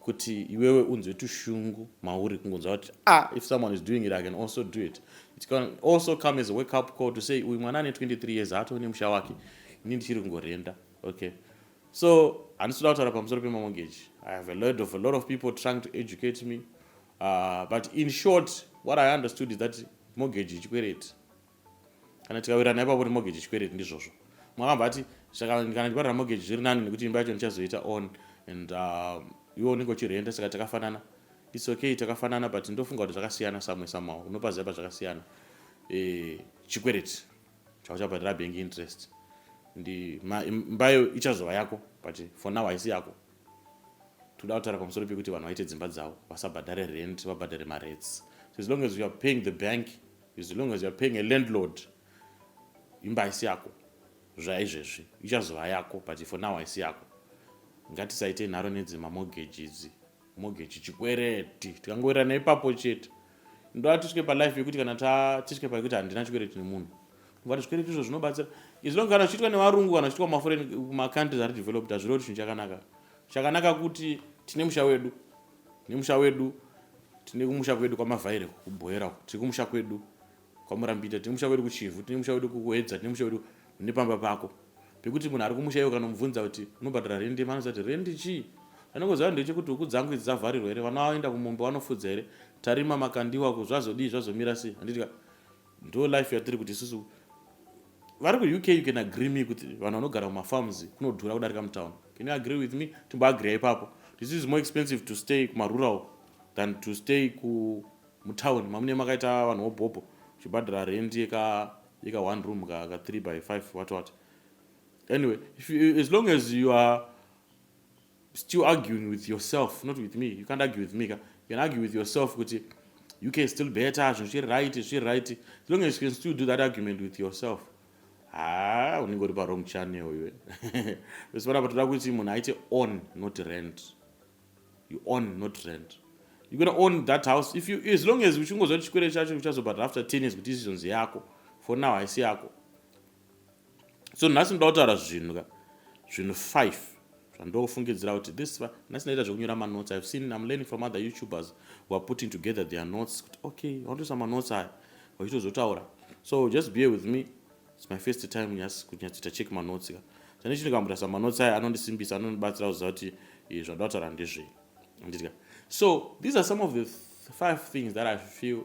kuti iwewe unzwe tushungu mauri kungonzwa kuti ah if someone is doing it i can also do it it can also come as a wake up call to say uyu mwana ane 23 years haatoo nemusha wake ini ndichiri kungorenda okay so handisi kuda kutaura pamusoro pemamogeji i have a load of a lot of people trying to educate me uh, but in short what i understood is that mogeji ichikwereti kana tikawirirana ipapo nemogeji chikwereti ndizvozvo mwakabva ati saka kana ndiparira mogeji zviri nani nekuti imba yacho ndichazoita on and uh, iwe unenge uchirenda saka takafanana its okay takafanana but ndofunga kuti zvakasiyana samwe samawo unopaziva pazvakasiyana eh, chikwereti chauchabhadhira bank interest ndi mbayo ichazova yako but for now haisi yako toda kutaura pamusoro pekuti vanhu vaite dzimba dzavo vasabhadhare rent vabhadhare marets so as long as youare paying the bank As long as you're paying a landlord, imba haisi yako zvaizvezvi ichazova yako but for now haisi yako ngatisaite nharo nedzi mamogeji idzi mogeji chikwereti tikangoerana ipapo chete ndoa tisvike palife yekuti kana tisvike paekuti handina chikwereti nemunhu vati zvikwereti izvo zvinobatsira izilonge kana zvichiitwa nevarungu kana zvichiitwa kumaforeign kumacountries ari developed hazvireo kuti chinhu chakanaka chakanaka kuti tine musha wedu Nemusha wedu tine kumusha kwedu kwamavhaire kubhoera uko tiri kumusha kwedu kwamurambita tine musha kwedu kuchivhu tine musha kwedu kuedza tine musha kwedu nepamba pako pekuti munhu ari kumusha iwe kana mubvunza kuti unobhadhara rendi manoziva kuti rendi chii anongoziva ndechekuti huku dzangu idzi dzavharirwa here vana vaenda kumombe vanofudza here tarima makandiwa ku zvazodii zvazomira sei handiti ka Ndo life yatiri kuti isusu vari kuuk you can agree me kuti vanhu vanogara kumafarms kunodhura kudarika mutown can you agree with me timboagreya ipapo this is more expensive to stay kumarural than to stay kumutown mamune makaita vanhu wobhobho uchibhadhara rent yeka yeka one room ka, ka three by five what what anyway if you, as long as you are still arguing with yourself not with me you can't argue with me ka you can argue with yourself kuti you can still better zvinhu zviri right zviri right as long as you can still do that argument with yourself haa ah, unenge uri parong channel iwe vese vanapa toda kuti munhu aite on not rent you on not rent you gona own that house if you as long as uchingoziva kuti chikwere chacho uchazobhadhara after ten years kuti izvizonzi yako for now haisi yako so nhasi ndoda kutaura zvinhu ka zvinhu five zvandofungidzira kuti this nhasi ndaita zvekunyora manotes ihave seen im learning from other youtubers who are putting together their notes kuti okay vanotoisa manotes aya vachitozotaura so just be with me its my first time yes kuti nyatsoita check manotes ka chane chino kambotarisa manotes aya anondisimbisa anondibatsira kuziva kuti eh, zvandoda kutaura ndezvei andidya so these are some of the five things that i feel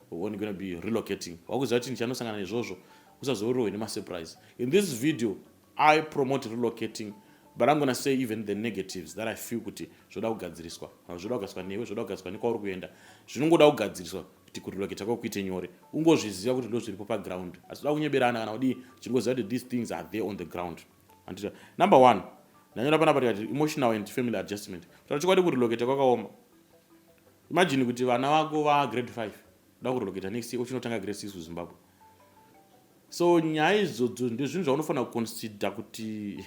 When gonna be relocating wakuziva chinhu chanosangana nezvozvo usazorohwe nemasurprise in this video i promote relocating but i'm gonna say even the negatives that i feel kuti zvoda kugadziriswa kana zvoda kugadziriswa newe zvoda kugadziriswa nekwauri kuenda zvinongoda kugadziriswa kuti kurelocate kwako kuite nyore ungozviziva kuti ndozviripo paground asi toda kunyeberana kana kudii chinongoziva kuti these things are there on the ground andita number one ndanyora panapa tikati emotional and family adjustment kutaura chokwadi kurelocate kwakaoma Imagine kuti vana vako va grade 5 da kurelocate next year uchinotanga grade 6 kuZimbabwe. So nyaya izvodzo ndezvinhu zvaunofanira kuconsider kuti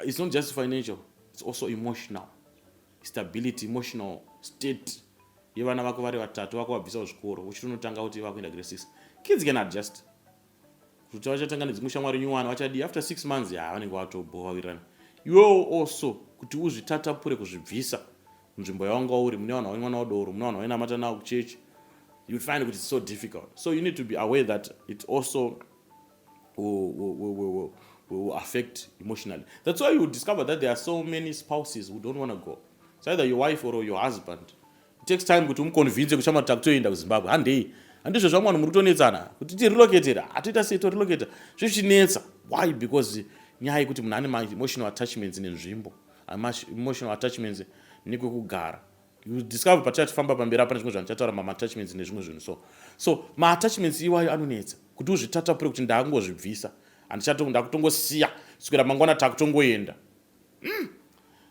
it's not just financial, it's also emotional stability, emotional state yevana vako vari vatatu vako vabvisa kuzvikoro uchitonotanga kuti vakuenda grade 6. Kids can adjust. kuti vachatanga nedzimwe shamwari nyuwana vachadii after six months ya vanenge vatobhowa wirirana iwewo also kuti uzvitatapure kuzvibvisa nzvimbo yawanga uri mune vanhu vainwana wadoro mune vanhu vainamata nawo kuchechi you find kuti so difficult so you need to be aware that it also will affect emotionally that's why you discover that there are so many spouses who don't want to go it's either your wife or your husband It takes time kuti umuconvince kuti shamwari takutoenda kuzimbabwe handei handizvo zvamwe vanhu muri kutonetsana kuti tirelocatera hatoita sei torelocata zvichinetsa why because nyaya yekuti munhu ane maemotional attachments nenzvimbo emotional attachments nekwekugara you discover patichatifamba pamberi apane zvimwe zvanhu chataura mamattachments nezvimwe zvinhu so so maattachments iwayo anonetsa kuti uzvitatapure kuti ndaangozvibvisa handichatongondakutongosiya kuswera mangwana takutongoenda mm.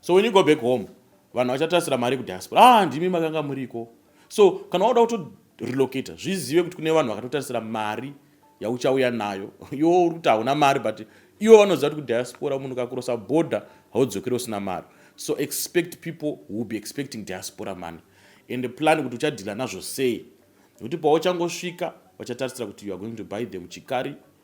so when you go back home vanhu vachatasira mari kudiaspora ah ndimi makanga muriko so kana wauda kutorelocata zvizive kuti kune vanhu vakatotarisira mari yauchauya nayo iwo uri kuti hauna mari but iwo vanoziva kuti kudiaspora munhu kakurosa border haudzokere usina mari so expect people will be expecting diaspora money and plan kuti uchadhila nazvo sei nekuti pauchangosvika vachatarisira kuti you are going to buy them chikari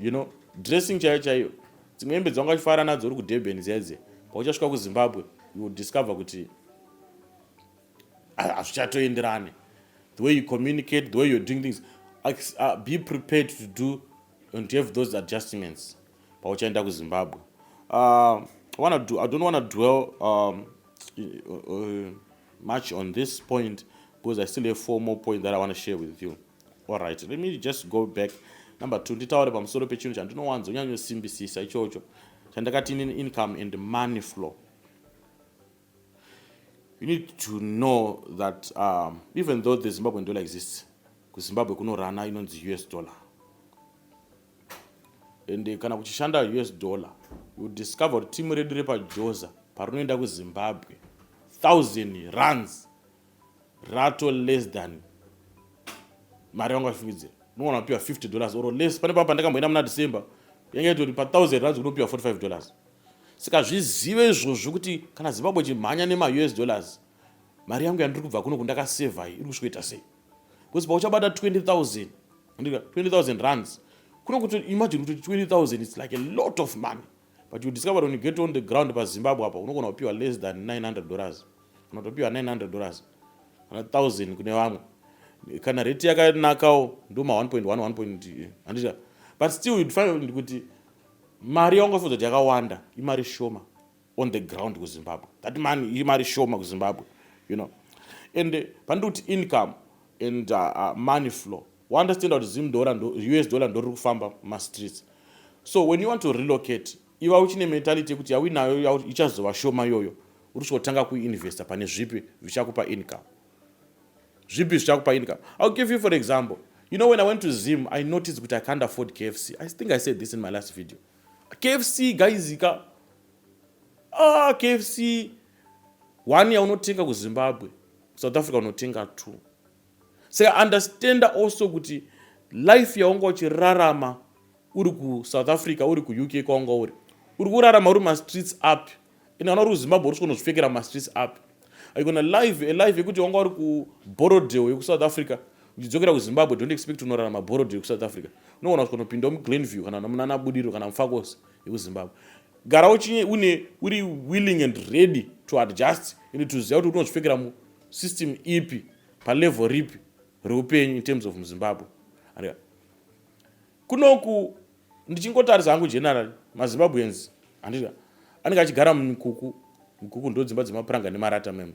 you know dressing chaiyo chaiyo dzimwe hembe dzanga uchifara nadzo uri kudurban dziya dziya pauchasvika kuzimbabwe you will discover kuti hazvichatoenderane the way you communicate the way you're doing things uh, be prepared to do and to have those adjustments pauchaenda kuzimbabwe uh, wanna do, i don't want to dwell um, uh, uh, much on this point because i still have four more point that i want to share with you all right let me just go back number two nditaure pamusoro pechinhu chandinowanzo nyanyosimbisisa ichocho chandakati in income and money flow you need to know that um, even though the zimbabwean dollar exists kuzimbabwe kunorana inonzi us dollar and kana kuchishanda us dollar you discover kuti timu redu repajoza parinoenda kuzimbabwe thousand runs rato less than mari yangu afikidzira unogona kupiwa 50 dollars or less pane paa pandakamboenda muna december yanga itori pa thousand runs kunopiwa 45 dollars saka zvizive izvozvo kuti kana zimbabwe chimhanya nemaus dollars mari yangu yandiri kubva kuno kundakasevha iri kusvikoita sei because pauchabata 20000 20000 runs kuno kuti imagine kuti 20000 its like a lot of money but you discover when you get on the ground pazimbabwe apa unogona kupiwa less than 900 dollars unotopiwa 900 dollars kana 1000 kune vamwe kana rate yakanakawo ndoma 1.1 1 but still you'd find kuti mari yaungafunza kuti yakawanda imari shoma on the ground kuzimbabwe that man imari shoma kuzimbabwe you know and eh, pandiri kuti income and uh, uh, money flow waunderstanda kuti zim dollar ndo us dollar ndoriri kufamba mumastreets so when you want to relocate iva uchine mentality yekuti yauinayo ichazova shoma iyoyo uri chotanga kuinvesta pane zvipi zvichakupa income zvipi zvichakupa income ill give you for example you know when i went to zim i noticed kuti i can't afford kfc i think i said this in my last video KFC guys ka ah KFC one yaunotenga kuZimbabwe South Africa unotenga two saka understanda also kuti life yaunga uchirarama uri kuSouth Africa uri kuUK kwaunga uri uri kurarama uri mastreets api ende vana vari kuzimbabwe uri svikonozvipfekera mumastreets api aikona live alive yekuti wanga uri kuborodeo yekusouth africa uchidzokera kuzimbabwe don't expect unorara maborodeo yekusouth africa unogona svikonopinda muglenview kana munana budiro kana mufakos yekuzimbabwe gara uchinye une uri willing and ready to adjust ende toziva kuti unozvipfekera musystem ipi palevel ripi reupenyu in terms of muzimbabwe Kunoku ndichingotarisa hangu general maZimbabweans handizvo anenge achigara mukuku mukuku ndodzimba dzemapuranga nemarata mem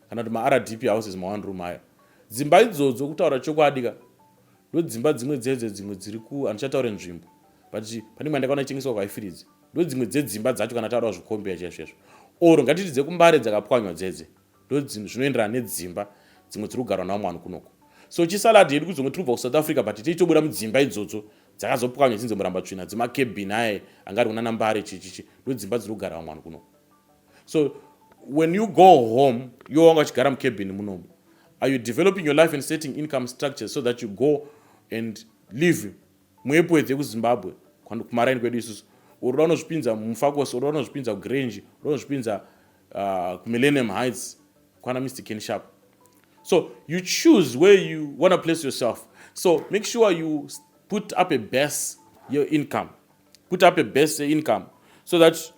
kana kuti maRDP houses ma one room haya dzimba idzodzo kutaura chokwadi ka ndodzimba dzimwe dzedzo dzimwe dziri ku handichataure nzvimbo but pane imwe ndakaona ichengeswa kwaifiridzi ndodzimwe dzedzimba dzacho kana taura zvikombeya chaizvo chaizvo or ngatiti dzekumbare dzakapwanywa dzedze zvinoenderana nedzimba dzimwe dziri kugarwa navo mwanhu kunoko so chisalad yedu kudzonge tiri kubva kusouth africa but teitobuda mudzimba idzodzo dzakazopwanya dzinze muramba tsvina dzemakebin aye anga ari kuna nambare chichichi ndodzimba dziri kugara vamwanhu kunoko so when you go home yo wanga uchigara mukebin munomo are you developing your life and setting income structures so that you go and live Mwepo here kuZimbabwe kwani kumaraini kwedu isusu uroda unozvipinza mufakosi uroda unozvipinza kugrange uroda unozvipinza uh, kumillennium heights kwana mr ken sharp so you choose where you want to place yourself so make sure you put up a base your income put up a base income so that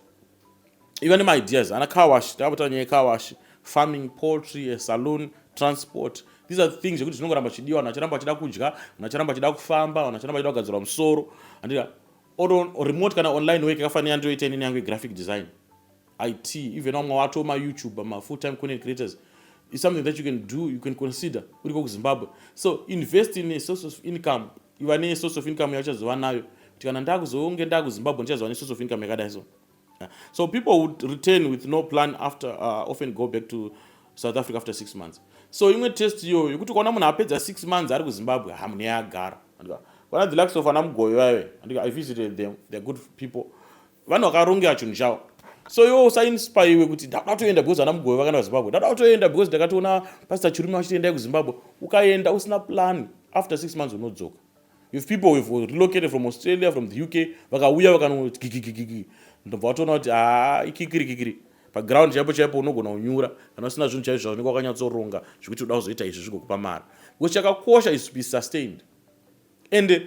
iva nemaideas ana car wash takapota nyaya yecar wash farming poultry a saloon transport these are things zvekuti zvinongoramba chidiwa vanhu vacharamba vachida kudya vanhu vacharamba vachida kufamba vanhu vacharamba vachida kugadzirwa musoro andira remote kana online work yakafanira yandiyoita inini yangu yegraphic design it even vamwe wato mayoutube mafull time content creators is something that you can do you can consider uri ko kuzimbabwe so invest in a source of income iva ne source of income yauchazova nayo kuti kana ndakuzonge ndakuzimbabwe ndichazova ne source of income yakadai so so people would return with no plan after uh, often go back to south africa after six months so imwe test iyoyo yekuti ukaona munhu apedza six months ari kuzimbabwe hamune yagara kana the likes of ana mugoyo vaive andika i visited them they're good people vanhu vakarongera chinhu chavo so iwe usainspaiwe kuti ndada kutoenda because vana mugove vakaenda kuzimbabwe ndada kutoenda because ndakatoona pastor chirume vachitoendai kuzimbabwe ukaenda usina plan after six months unodzoka if people have relocated from australia from the uk vakauya vakanogigigigigi ndobva watoona kuti haa ah, ikikirikikiri paground chaipo chaipo unogona kunyura kana usina zvinhu chaizvo zvaunenge wakanyatsoronga zvekuti uda kuzoita izvi zvigokupa mari because chakakosha is to be sustained and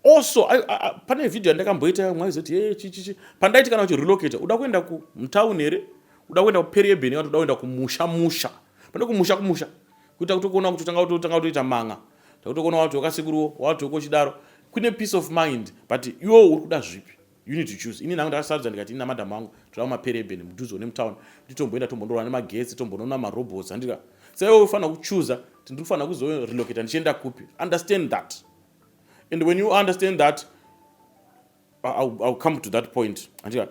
also I, I, pane video yandakamboita mwaizoti hey, chichichi pandaiti kana uchirelocate uda kuenda kumtown here uda kuenda kuperieben kana uda kuenda kumusha musha pane kumusha kumusha kuita kuti kuona kuti tanga kutotanga kutoita manga takutokuona wati wakasikuruwo wati wokochidaro kune peace of mind but iwo uri kuda zvipi You need to choose. Ini nangu ndakasarudza ndikati ini namadam wangu toda mapereben mudhuze one mutown kuti tomboenda tombondorwa nemagetsi tombonona marobots andika saiwe ufanira kuchuza kuti ndiri kufanira kuzorelocata ndichienda kupi understand that and when you understand that I'll, I'll come to that point andika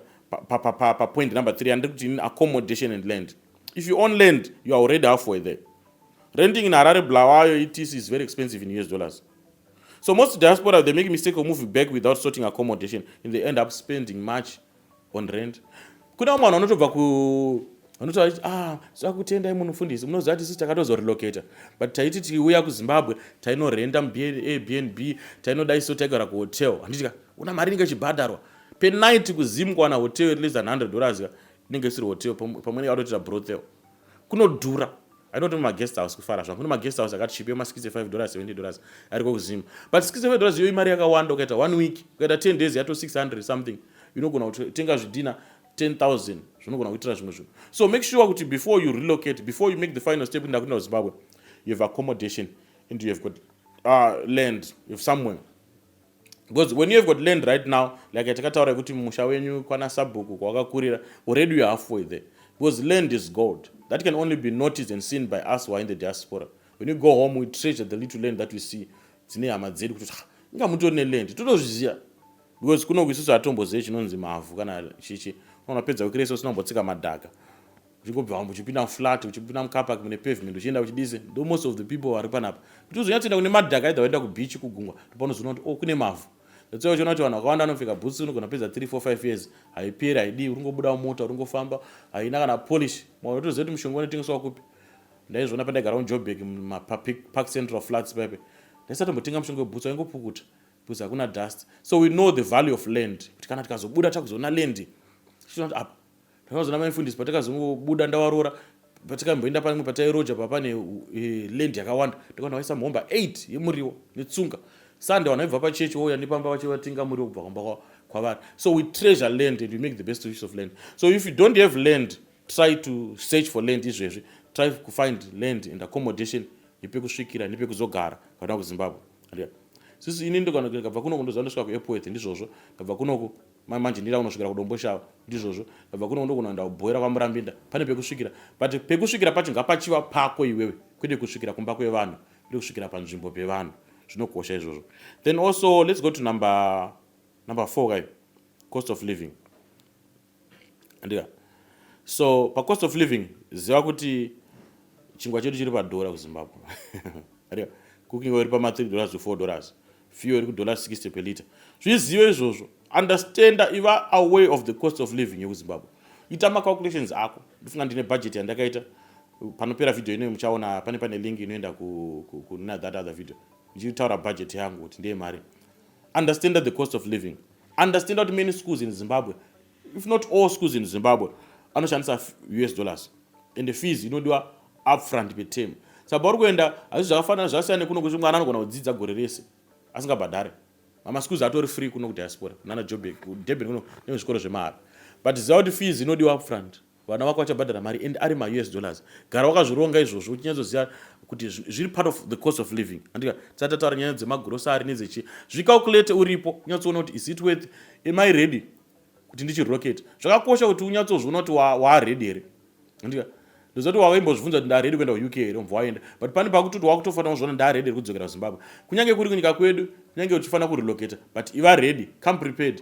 papoint number three andiri kuti ini accommodation and land if you own land you are already halfway there renting in harare blawayo etc is very expensive in us dollars So most diaspora, they make mistake of moving back without sorting accommodation and they end up spending much on rent. Kuna umwe vanhu vanotobva ku vanotaura kuti ah sakutendai munhu mufundisi munoziva kuti sisi takatozorelocata but taiti tiuya kuzimbabwe tainorenda muairbnb tainodai so taigara kuhotel handitika una mari inenge ichibhadharwa penight kuzim kuwana hotel at least an 100 dollars ka inenge isiri hotel pamwe nekatoitira brothel kunodhura I don't know my guest house kufara zvangu kune maguest house akati chipe ma 65 dollars 70 dollars ariko kuzim but 65 dollars iyo imari yakawanda ukaita one week ukaita 10 days yato 600 something unogona kutenga zvidhina 10000 zvinogona kuitira zvimwe zvinhu so make sure kuti before you relocate before you make the final step ndakuenda kuzimbabwe you have accommodation and you have got uh, land you have somewhere because when you have got land right now like yatakataura yekuti musha wenyu kwana sabhuku kwawakakurira already you halfway there because land is gold that can only be noticed and seen by us who are in the diaspora when you go home we treasure the little land that we see dzine hama dzedu kuti ah, inga mutori neland totozviziva because kunoku isusu hatombozive chinonzi mavhu kana chichi unapedza kukiresa usinombotsika madhaka uchingobva wambo uchipinda muflat uchipinda mucapak mune pavement uchienda kuchidise ndo most of the people vari panapa kuti uzonyatsoenda kune madhaka either waenda kubeach kugungwa ndopanozoona kuti o oh, kune mavhu that's why uchiona kuti vanhu vakawanda vanopfeka boots unogona pedza 3 4 5 years haiperi haidii uringobuda mota uringofamba haina kana polish mwana utoziva kuti mushonga unotengeswa kupi ndaizviona pandaigara mujobek mumapark central flats paipe ndaisatombotenga mushonga weboots waingopukuta because hakuna dust so we know the value of land kuti kana tikazobuda takuzoona land chiona kuti apa Ndakazoona mai mfundisi patakazongobuda ndawaroora patikamboenda pamwe patairoja papa ne eh, land yakawanda ndikaona vaisa mhomba 8 yemuriwo netsunga sunday vanhu vaibva pachechi wouya nepamba vacho vatenga muriwo kubva kumba kwavari so we treasure land and we make the best use of land so if you don't have land try to search for land izvezvi try to find land and accommodation yepekusvikira nepekuzogara kana kuzimbabwe sisi ini ndikabva kunoku ndoziva ndosvika kuairport ndizvozvo ndabva kunoku Mai manje ndira kunosvikira kudomboshawa ndizvozvo ndabva kuno ndokunoenda kubhoira kwamurambinda pane pekusvikira but pekusvikira pacho ngapachiva pako iwewe kwete kusvikira kumba kwevanhu kwete kusvikira panzvimbo pevanhu zvinokosha izvozvo then also let's go to number number four kai cost of living andika so pacost of living ziva kuti chingwa chedu chiri padhora kuzimbabwe andika cooking oil pama3 dollars to 4 dollars fuel iri kudollar 60 per liter zvizive izvozvo understanda iva away of the cost of living yekuzimbabwe ita macalculations ako ndifunga ndine budget yandakaita panopera video inoyo muchaona pane pane link inoenda kuna that other video ndichitaura budget yangu kuti ndeye mari understanda the cost of living understanda kuti many schools in zimbabwe if not all schools in zimbabwe anoshandisa us dollars and fees inodiwa upfront peterm saka pauri kuenda hazvi zvakafanana zvasiyana nekuno kuti mwana anogona kudzidza gore rese asingabhadhare mamaschools atori free kuno kudiaspora nana jobek kudurban kuno nemuzvikoro zvemahara but ziva kuti fees inodiwa upfront Vana vako vachabhadhara mari and ari ma us dollars. Gara wakazvironga izvozvo uchinyatsoziva kuti zviri part of the cost of living. Andika tisati tataura nyaya dzemagrocery nedzechi. Zvicalculate uripo unyatsoona kuti is it worth am I ready kuti ndichirelocate. Zvakakosha kuti unyatsozviona kuti waaready here. Andika ndoziva kuti wave imbozvibvunza kuti ndaready kuenda kuUK here umbva waenda but pane pakuti kuti wakutofanira kuzviona ndaready here kudzokera kuZimbabwe. Kunyange kuri kunyika kwedu kunyange uchifanira kurelocate but iva ready come prepared.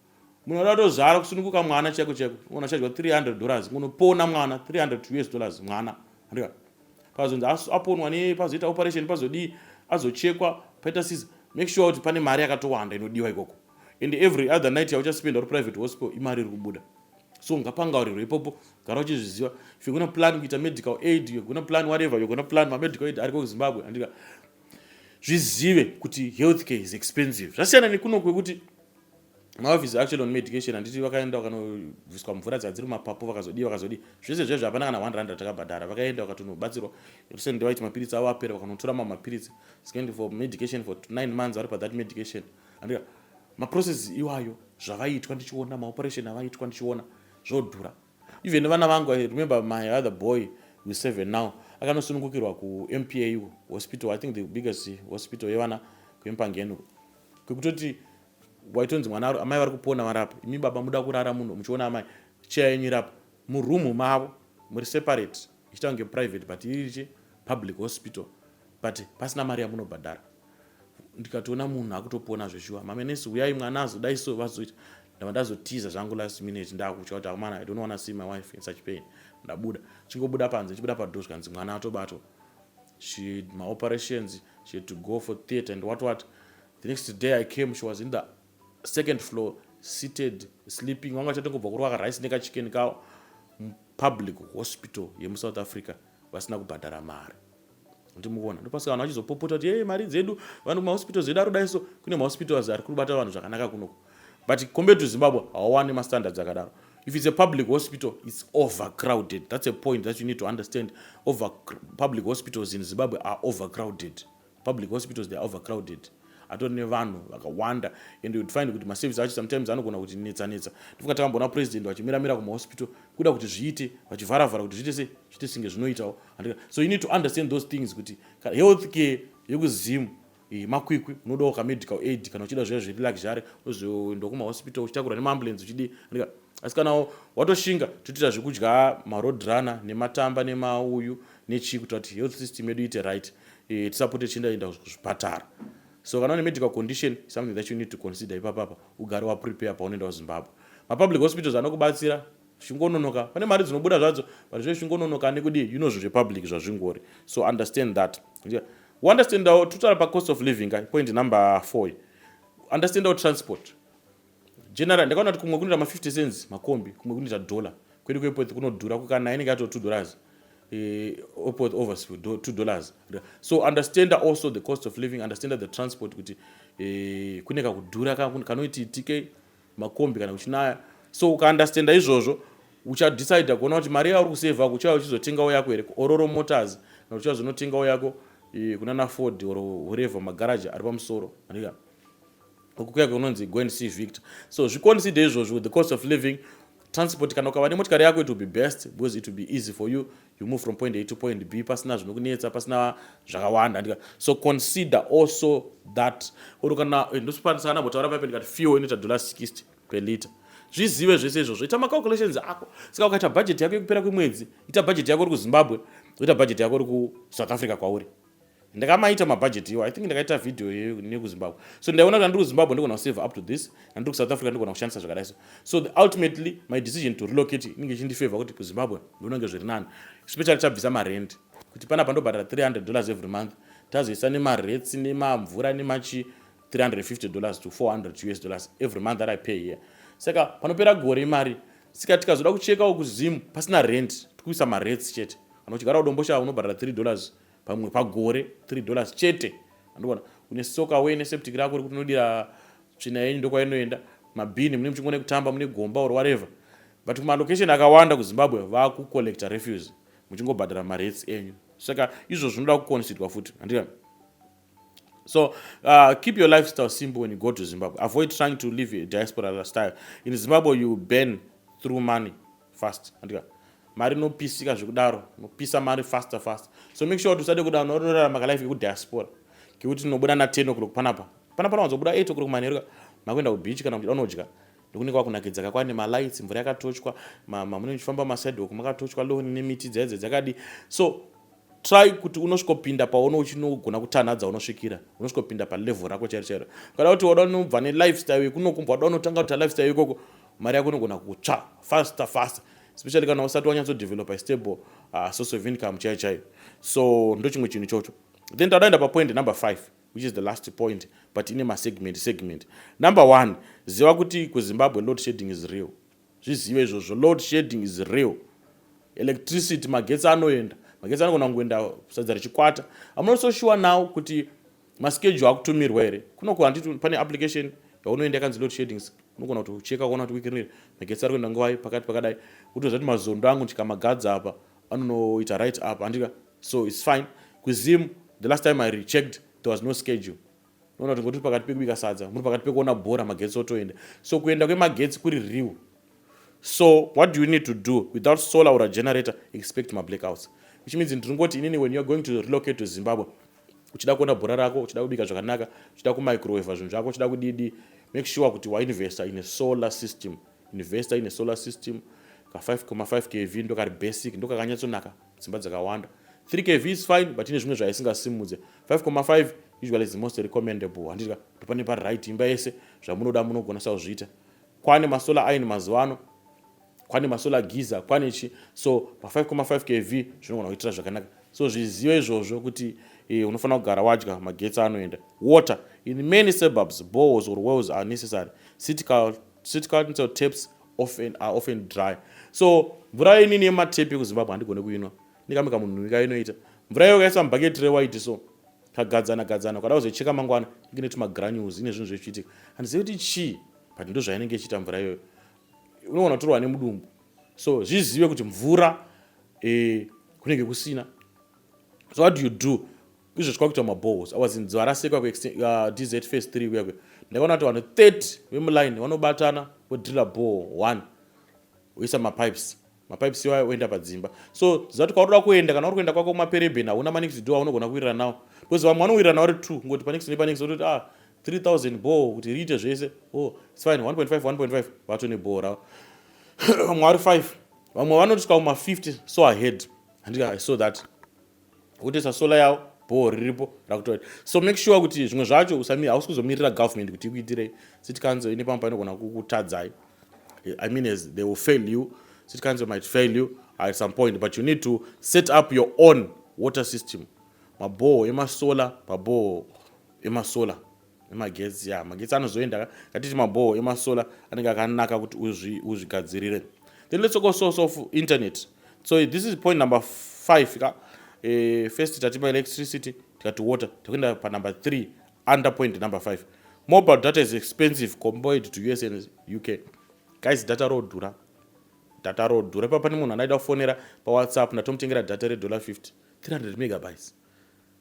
Munhu anoda kutozvara kusununguka mwana chaiko chaiko. Munhu achadya 300 dollars kunopona mwana 300 to US dollars mwana. Andika. Pazonzi aponwa ne pazoita operation pazodii azochekwa paita sisi make sure kuti pane mari yakatowanda inodiwa ikoko. And every other night yauchaspenda uri private hospital imari iri kubuda. So ngapangaurirwe ipopo gara uchizviziva. If you're going to plan kuita medical aid, you're going to plan whatever, you're going to plan ma medical aid ariko kuZimbabwe. Andika. Zvizive kuti healthcare is expensive. Zvasiyana nekuno kwekuti maoffice actually on medication handiti vakaenda vakanobviswa mvura dzadziri mumapapu vakazodii vakazodii zvese zvezvo hapana kana 1 rand ratakabhadhara vakaenda vakatonobatsirwa recently vaiti mapiritsi avo apera vakanotora mamwe mapiritsi skendi for medication for 9 months vari pathat medication andika maprocess iwayo zvavaitwa ndichiona maoperation avaitwa ndichiona zvodhura even vana vangu i remember my other boy we seven now akanosunungukirwa kumpa hospital i think the biggest hospital yevana kuempangeni kwekutoti waitonzi mwana aro amai vari kupona varapo imi baba muda kurara muno muchiona amai cheya yenyu irapo muroom mavo muri separate ichita kunge private but irichi public hospital but pasina mari yamunobhadhara ndikatoona munhu akutopona zveshuwa mamenesi huyai mwana azodai so vazoita ndava ndazotiza zvangu last minute ndakutya kuti amana i don't wanna see my wife in such pain ndabuda chingobuda panze chibuda padhoo zvikanzi mwana atobatwa she had ma operations she had to go for theatre and what what the next day i came she was in the second floor seated sleeping vanga vachatongobva kurwa karice nekachicken kawo mupublic hospital yemusouth africa vasina kubhadhara mari ndimuvona ndopasika vanhu vachizopopota kuti yee mari dzedu vanhu mahospitals edu arudaiso kune mahospitals ari kurubata vanhu zvakanaka kunoku but compared to zimbabwe hawawani mastandards akadaro if it's a public hospital it's overcrowded that's a point that you need to understand over public hospitals in zimbabwe are overcrowded public hospitals they are overcrowded atori nevanhu vakawanda and you'd find kuti maservice acho sometimes anogona kuti netsa netsa ndifunga takamboona president vachimiramira kumahospital kuda kuti zviite vachivharavhara kuti zviite se zviite singe zvinoitawo so you need to understand those things kuti health care yekuzim Eh, makwikwi unodawo kamedical aid kana uchida zviya zviri luxury unozoenda kumahospital uchitakurwa nemaambulensi uchidii asi kana watoshinga totoita zvekudya maroad runner nematamba nemauyu nechii kuita kuti health system yedu iite right e, tisapote tichiendaenda kuzvipatara so kana une medical condition something that you need to consider ipapapa ugare waprepare paunoenda kuzimbabwe mapublic hospitals anokubatsira zvingononoka pane mari dzinobuda zvadzo but zve zvingononoka ane kudii you know zvinhu zvepublic zvazvingori so understand that understandawo totala pacost of living ka point number four understandawo transport general ndakaona kuti kumwe kunoita ma50 cents makombi kumwe kunoita dollar kwedu kwepoth kunodhura kukana inenge yato two dollars eh, opoth overs two dollars so understand also the cost of living understand the transport kuti eh, kune kakudhura kanoititike makombi kana kuchinaya so ukaunderstanda izvozvo uchadecide kuona kuti mari yauri kusevha ko uchauya uchizotengawo yako here ororo motors kana uchazonotengawo yako eh, kunana ford or whatever magaraji ari pamusoro andika ukuya kunonzi go and see victor so zviconsider izvozvo with the cost of living transport kana ukava nemotikari yako it will be best because it will be easy for you you move from point a to point b pasina zvinokunetsa pasina zvakawanda andika so consider also that or kana eh, ndosipandisa ana botaura paipe ndikati fuel inoita dollar 60 per liter zvizive zvese izvozvo ita macalculations ako saka ukaita budget yako yekupera kwemwedzi ita budget yako uri kuzimbabwe oita budget yako uri kusouth africa kwauri ndakamaita mabudget iwo i think ndakaita video nekuzimbabwe so ndaiona kuti andiri kuzimbabwe ndigona kusave up to this andiri kusouth africa ndigona kushandisa zvakadai so so the ultimately my decision to relocate inenge ichindifavor kuti kuzimbabwe ndonange zviri nani especially tabvisa marent kuti panapa ndobhadhara 300 dollars every month tazoisa nemaretsi nemamvura nemachi 350 dollars to 400 us dollars every month that i pay here saka panopera gore imari sika tikazoda kuchekawo kuzimu pasina rent tikuisa maretsi chete kana uchigara udombosha unobhadhara 3 dollars pamwe pagore 3 dollars chete andikuona une soka away neseptic rako rekuti unodira tsvina yenyu ndokwainoenda mabhini mune muchingone kutamba mune gomba or whatever but kumalocation akawanda kuzimbabwe vakucollecta refuse muchingobhadhara marates enyu saka izvo zvinoda kuconsidwa futi handika so uh, keep your lifestyle simple when you go to zimbabwe avoid trying to live diaspora style in zimbabwe you burn through money fast andika mari inopisika zvekudaro inopisa mari faster faster so make sure kuti usade kuda unorarama kalife kekudiaspora kekuti tinobuda na 10 o'clock panapa panapa nawanzobuda 8 o'clock manheru makuenda kubeach kana kuchida unodya nekunenge kwakunakidza ka kwane malights mvura yakatochwa mamunenge muchifamba masidewalk makatochwa loni nemiti dzaidze dzakadi so try kuti unosvikopinda paone uchinogona kutanhadza unosvikira unosvikopinda palevel rako chairo chairo kada kuti wada unobva nelifestyle yekunokumbwa wada unotanga kuti alifestyle ikoko mari yako inogona kutsva faster faster especially kana usati wanyatso developer stable uh, source of income chaiyo chaiyo so ndo chimwe chinhu chocho then tadaenda papoint number five which is the last point but ine masegment segment number one ziva kuti kuzimbabwe load shading is real zvizive izvozvo load shading is real electricity magetsi anoenda magetsi anogona kungoenda sadza richikwata amunososhuwa now kuti Maschedule akutumirwa here? Kunoko handiti pane application yaunoenda yakanzi load shadings unogona kuti ucheka ukaona kuti weekend iri magetsi ari kuenda nguvai pakati pakadai utoziva kuti mazondo angu ndikamagadza apa anonoita right up andika so its fine kuzim the last time i rechecked there was no schedule unoona kuti ngotiri pakati pekubika sadza muri pakati pekuona bhora magetsi otoenda so kuenda kwemagetsi kuri real so what do you need to do without solar or a generator expect mablackouts which means ndiringoti inini when youare going to relocate to zimbabwe uchida kuona bhora rako uchida kubika zvakanaka uchida kumicroweva zvinhu zvako uchida kudidi make sure kuti wainvesta in a solar system investor in a solar system ka 5,5 kv ndokari basic ndokakanyatsonaka dzimba dzakawanda 3 kv is fine but ine zvimwe zvaisingasimudze 5,5 usually is the most recommendable handika ndopane pari right imba yese zvamunoda munogona sakuzviita kwane masolar iron mazuva ano kwane masolar giza kwane chi so pa 5,5 kv zvinogona kuitira zvakanaka so zvizive izvozvo kuti eh, unofanira kugara wadya magetsi anoenda water in many suburbs bows or wells are necessary city council taps often, are often dry so mvura inini yematepi ekuzimbabwe handigone kuinwa ndikamika munhu ika inoita mvura iyo kaisa mubhaketi rewaiti so kagadzana gadzana ukada kuzoicheka mangwana ikineti magranules ine zvinhu zvechiitika handizivi kuti chii but ndozvainenge ichiita mvura iyoyo unogona kutorwa nemudumbu so zvizive kuti mvura eh, kunenge kusina so what do you do izvo chikwakuita mabohos awazinziwa rasekwa kudz uh, face 3 kuyakwe ndakaona kuti vanhu 30 vemuline vanobatana vodrilla boho 1 woisa mapipes mapipes iwayo oenda padzimba so ziva kuti kwaunoda kuenda kana uri kuenda kwako kumapereben hauna manext do aunogona kuwirira nawo because vamwe vanowirira nawo ri two kungoti panext nepanext ototi ah 3000 boo kuti riite zvese o oh, its fine 1.5 1.5 vato neboo ravo vamwe vari five vamwe vanotiswa kuma 50 so ahead handika i saw that wotesa solar yawo bhoo riripo rakutoa so make sure kuti zvimwe zvacho usami hausi kuzomirira government kuti ikuitirei city council ine pamwe painogona kukutadzai i mean as they will fail you city council might fail you at some point but you need to set up your own water system mabhoo emasolar pabhoo emasolar nemagetsi ya magetsi anozoenda ka ngatiti mabhoho emasolar anenge akanaka kuti uzvigadzirire then let's go source of internet so this is point number five ka eh, first tati maelectricity tikati water tikuenda panumber three under point number five mobile data is expensive compared to us and uk guys data rodhura data rodhura ipa pane munhu anaida kufonera pawhatsapp ndatomutengera data redollar 50 300 megabytes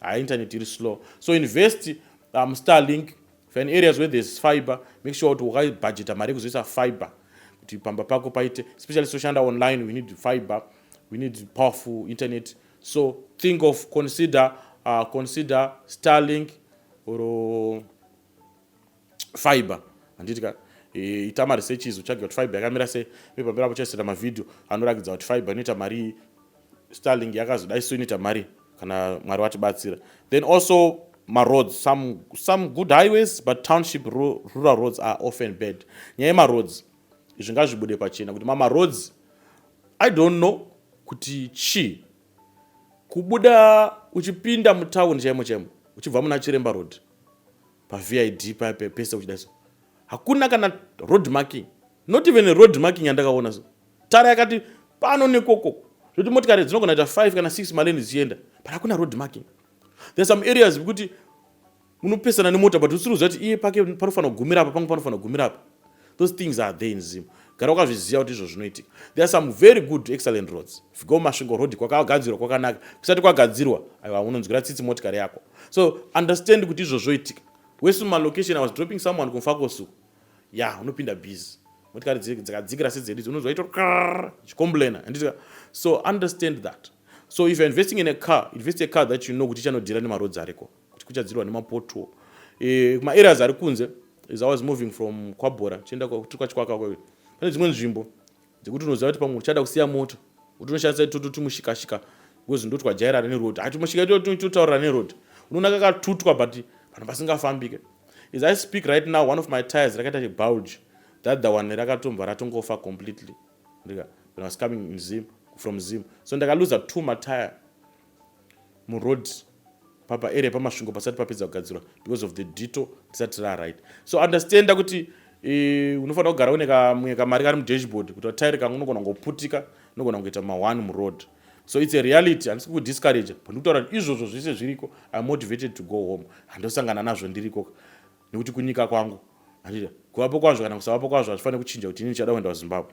hayi internet iri slow so invest um, starlink for an areas where there's fiber make sure kuti wakabhajeta mari yekuzoisa fiber kuti pamba pako paite especially soshanda online we need fiber we need powerful internet so think of consider uh, consider starlink or fiber handiti ka e, ita mari sechizi utsvage kuti fiber yakamira sei uye pamberi apo chaisaita mavhidhiyo anorakidza kuti fiber inoita marii starling yakazodai so inoita mari kana mwari vatibatsira then also maroads some, some good highways but township rural roads are often bad nyaya yemaroads izvi ngazvibude pachena kuti mamaroads i don't know kuti chii kubuda uchipinda mutauni chaimo chaimo uchibva muna chiremba road paVID paya pese uchida so hakuna kana road marking not even a road marking yandakaona so tara yakati pano nekoko zvekuti motikari dzinogona ita 5 kana 6 maleni dzichienda but hakuna road marking there some areas vekuti munopesana nemota but usiri kuziva kuti iye pake panofanira kugumira apa pangu panofanira kugumira apa those things are there in zim gara wakazviziva kuti izvo zvinoitika there are some very good excellent roads figo masvingo road kwakagadzirwa kwakanaka kusati kwagadzirwa aiwa unonzwira tsitsi motikari yako so understand kuti izvo zvoitika wese mumalocation i was dropping someone kumfakosuku ya yeah, unopinda busy motikari dzakadzikira sedzedu idzi unonzwa ito chikomblena anditika so understand that so if you're investing in a car invest a car that you know kuti chanodhira nemarodzi ariko kuti kuchadzirwa nemapotuo e, maareas ari kunze is i was moving from kwabhora tichienda tiri kwachikwaka kwayo pane dzimwe nzvimbo dzekuti unoziva kuti pamwe uchada kusiya moto kuti unoshandisa itoto timushikashika because ndotwajairana neroad hati mushika itoto totaurira neroad unoona kakatutwa but vanhu vasingafambike is i speak right now one of my tires rakaita chibulge that the one rakatomva ratongofa completely ndika when i was coming in zim from zim so ndakaluza two matire muroad papa area pamasvingo pasati papedza kugadzirwa because of the dito risati raright so understanda kuti e, unofanira kugara une kamwe kamari kari mudashboard kuti vatairi kangu unogona kungoputika unogona kungoita ma1 muroad so its a reality handisi kukudiscourage but ndikutaura kuti izvozvo zvese zviriko im motivated to go home handosangana nazvo ndiriko nekuti kunyika kwangu kuvapo kwazvo kana kusavapo kwazvo hazvifanire kuchinja kuti ini ndichada kuenda kuzimbabwe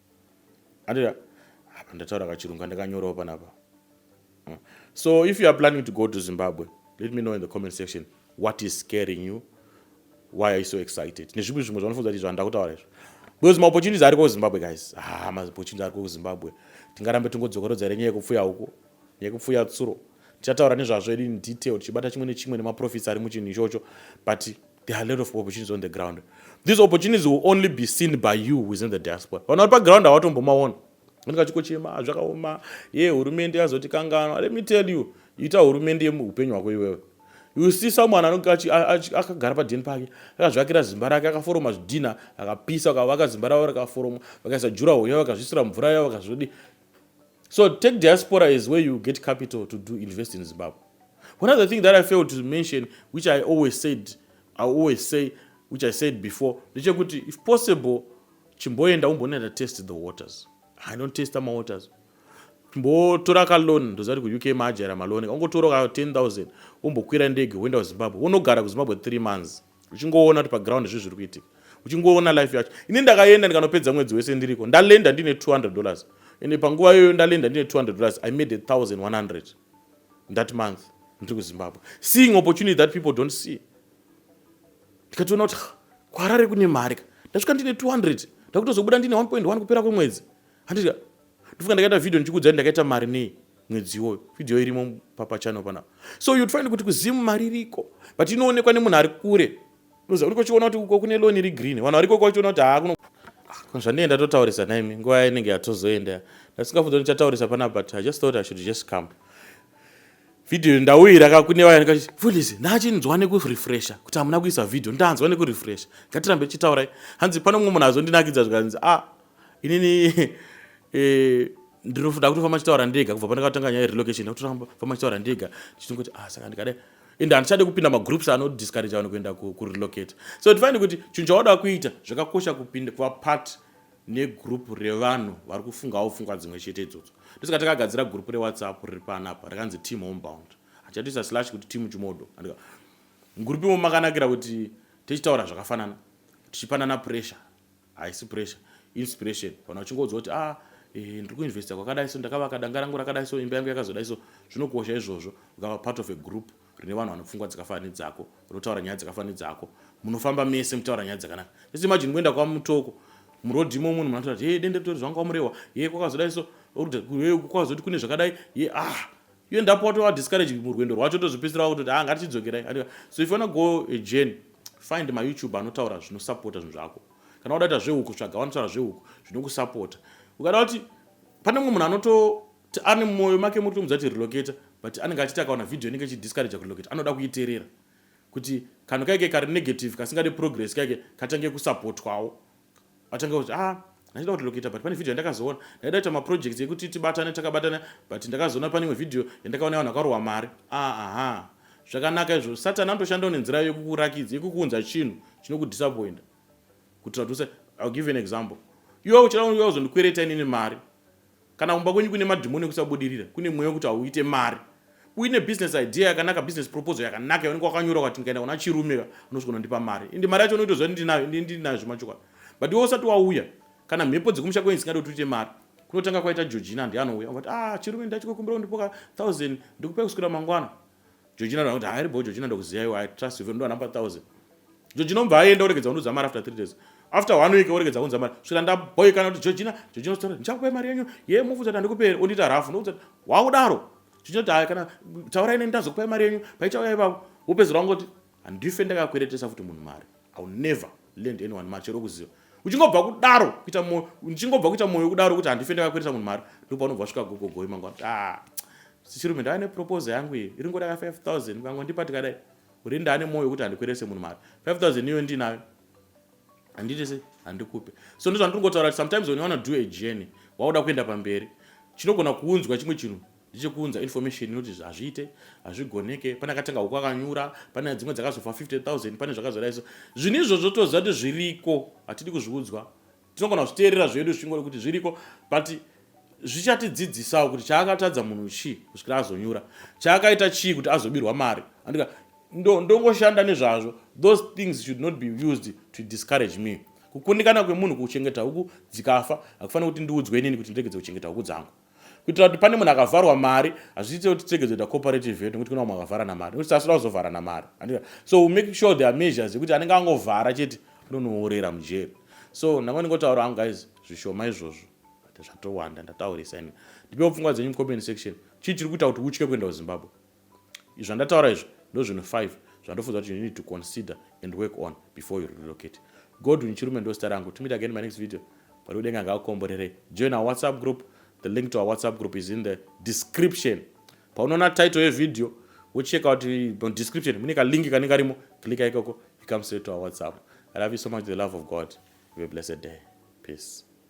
andira apa ndataura kachirungu andakanyorawo panapa mm. so if you are planning to go to zimbabwe let me know in the comment section what is scaring you why are you so excited nezvimwe zvimwe zvanofunza kuti zvanda kutaura izvo because maopportunities ariko kuzimbabwe guys ha ah, maopportunities ariko kuzimbabwe tingarambe tingodzokorodza here nyaya yekupfuya uko nyaya yekupfuya tsuro tichataura nezvazvo edu in detail tichibata chimwe nechimwe nemaprofits ari muchinhu ichocho but There are a lot of opportunities on the ground. These opportunities will only be seen by you who is in the diaspora. Vanhu vari paground havatombomaona. Vanenge vachikochema ah, zvakaoma ye hurumende yazoti kanganwa. Let me tell you, ita hurumende yemuhupenyu hwako iwewe. You see someone anonge akagara padheni pake akazvakira zimba rake akaforoma zvidhina akapisa akavaka zimba ravo rakaforoma vakaisa juraho yavo vakazvisira mvura yavo vakazvodi So tech diaspora is where you get capital to do invest in Zimbabwe. One other thing that I failed to mention, which I always said, I always say, which I said before, ndechekuti if possible, chimboenda umbonenda test the waters. I don't test my waters. mbotora kalon ndozati kuuk maajera malon ongotora ka 10000 wombokwira ndege woenda kuzimbabwe wonogara kuzimbabwe 3 months uchingoona kuti paground zvi zviri kuitika uchingoona life yacho ini ndakaenda ndikanopedza mwedzi wese ndiriko ndalenda ndine 200 dollars ende panguva iyoyo ndalenda ndine 200 dollars i made 1100 that month ndiri kuzimbabwe seeing opportunity that people don't see ndikatoona kuti kwarare kune mari ka ndasvika ndine 200 ndakutozobuda ndine 1.1 kupera kwemwedzi handika ndofunga ndakaita video ndichikuudzai ndakaita mari nei mwedzi iwoyo video irimo papachannel panapa so you'd find kuti kuzimu mari iriko but inoonekwa nemunhu ari kure uza uri kuchiona kuti uko kune loan iri green vanhu variko kwachiona kuti haakuno ah, zvandiye ndatotaurisa naimi nguva yainenge yatozoenda ndasingafunza ndichataurisa panapa but i just thought i should just come video ndauyira kakune vaya ndikati fulis ndachinzwa nekurefresha kuti hamuna kuisa video ndanzwa nekurefresha ngatirambe tichitaurai hanzi pano mumwe munhu azondinakidza zvikanzi a ah, inini eh, ndinoda kutofamba chitaura ndega kubva pandakatanga nyaya relocation ndakutofamba chitaura ndega ndichitongoti ah saka ndikadai and handichade kupinda magroups anodiscourage vanhu kuenda kurelocate so tifanire kuti chinhu chawada kuita zvakakosha kupinda kuva part negroup revanhu vari kufungawo pfungwa dzimwe chete idzodzo ndosaka takagadzira group rewhatsapp riri panapa rakanzi team homebound hatichatoisa slash kuti team chimodo mugroup imo makanakira kuti tichitaura zvakafanana tichipanana pressure haisi pressure inspiration vanhu vachingoudza kuti ah eh, ndiri kuinvesta kwakadai so ndakavaka danga rangu rakadai so imba yangu yakazodai so zvinokosha izvozvo ukava part of a group rine vanhu vanopfungwa dzakafana nedzako unotaura nyaya dzakafana nedzako munofamba mese mutaura nyaya dzakanaka just imagine kuenda kwamutoko muroad imo munhu munatoa hey dende ritori zvangu kwamurewa ye kwakazodai so kwakazoti kune zvakadai ye ah you end up watova discouraged murwendo rwacho tozopedzisira wakutoti ha ah, ngatichidzokerai andiwa so if you wanna go a journey find mayoutube anotaura zvinosapota zvinhu zvako kana wada kuita zvehuku tsvaga vanotaura zvehuku zvinokusapota ukada kuti pane mumwe munhu anoto ane mwoyo make muri tomudza kuti relocate but anenge achiti akaona video inenge ichidiscourage kurelocate anoda kuiterera kuti kanhu kaike kari negative kasingade progress kaike kachange kusapotwawo atanga kuti ah ndaida kuti lokita but pane video yandakazoona ndaida kuita maprojects ekuti tibatane takabatana but ndakazoona pane imwe video yandakaona vanhu vakarohwa mari ah, aha zvakanaka izvo satani anotoshandawo nenzira yekukurakidza yekukuunza chinhu chinokudisappointa kutira kuti i'll give an example iwe uchida kuzondikwereta inini mari Kana kumba kwenyu kune madhimoni ekusabudirira, kune mweya wekuti hauite mari, uine business idea yakanaka, business proposal yakanaka yaunenge wakanyora ukati ndikaenda kuna Chirume ka unozogona kundipa mari ende mari yacho unoitoziva kuti ndinayo ende ndinayo zvemachokwadi but iwe usati wauya kana mhepo dzekumusha kwenyu dzisingadi kuti uite mari kunotanga kwaita Georgina ndiye anouya ungati ah Chirume ndati kukumbira undipoka 1000 ndikupai kuswira mangwana Georgina ndoona kuti hairi bho Georgina ndokuziva iwe I trust you vero ndoana pa 1000. Georgina unobva aenda oregedza kundiudza mari after 3 days. After one week oregedza kundiudza mari. Svira ndaboikana kuti Georgina, Georgina story ndichakupai mari yenyu. Ye mufuza kuti andikupe here ondiita rafu ndokuti wakudaro. Georgina kuti hayi kana taura ine ndazokupai mari yenyu paichauya ipapo. Wopedzera wangoti handife ndakakweretesa futi munhu mari. I will never. lend anyone mari chero kuziva uchingobva kudaro kuita moyo uchingobva kuita moyo kudaro kuti handife ndakakweresa munhu mari ndipo panobva svika gogogoi mangwa ah, chirume ndava neproposal yangu iyi iri ngodaka 5000 mkango ndipa tikadai uri ndane moyo wekuti handikwerese munhu mari 5000 iyo ndinayo handiti se handikupe so ndizvandiri ngotaura kuti sometimes when you wanna do a journey wakuda kuenda pamberi chinogona kuunzwa chimwe chinhu Ndichikuunza information inoti hazviite, hazvigoneke, pane akatanga huku akanyura, pane dzimwe dzakazofa 50,000, pane zvakazara iso. Zvinhu izvozvo toziva kuti zviriko, hatidi kuzviudzwa. Tinogona kuzviteerera zvedu zvichingori kuti zviriko, but zvichatidzidzisawo kuti chaakatadza munhu chii kusvikira azonyura, chaakaita chii kuti azobirwa mari. Andika ndongoshanda nezvazvo. Those things should not be used to discourage me. Kukundikana kwemunhu kuchengeta huku dzikafa, hakufanira kuti ndiudzwe inini kuti ndiregedze kuchengeta huku dzangu. kuitira kuti pane munhu akavharwa mari hazviite kuti tege zoita cooperative yedu nokuti kuna vamwe vakavharana mari nokuti tasira kuzovharana mari so we make sure there are measures ekuti anenge angovhara chete anonoorera mujeri so ndanga ndingotaura hangu guys zvishoma izvozvo zvatowanda ndataurisa ini ndipewo pfungwa dzenyu mucomment section chii chiri kuita kuti utye kuenda kuzimbabwe zvandataura izvo ndozvinhu 5 zvandofunza kuti you need to consider and work on before you relocate godwin chirume ndosita rangu to meet again my next video mwari wedenga ngaakomborerei join our whatsapp group the link to our whatsapp group is in the description paunoona title yevideo wocheka kuti description mune kalink kanenge karimo klika ikoko you come straight to our whatsapp i love you so much the love of god have a blessed day peace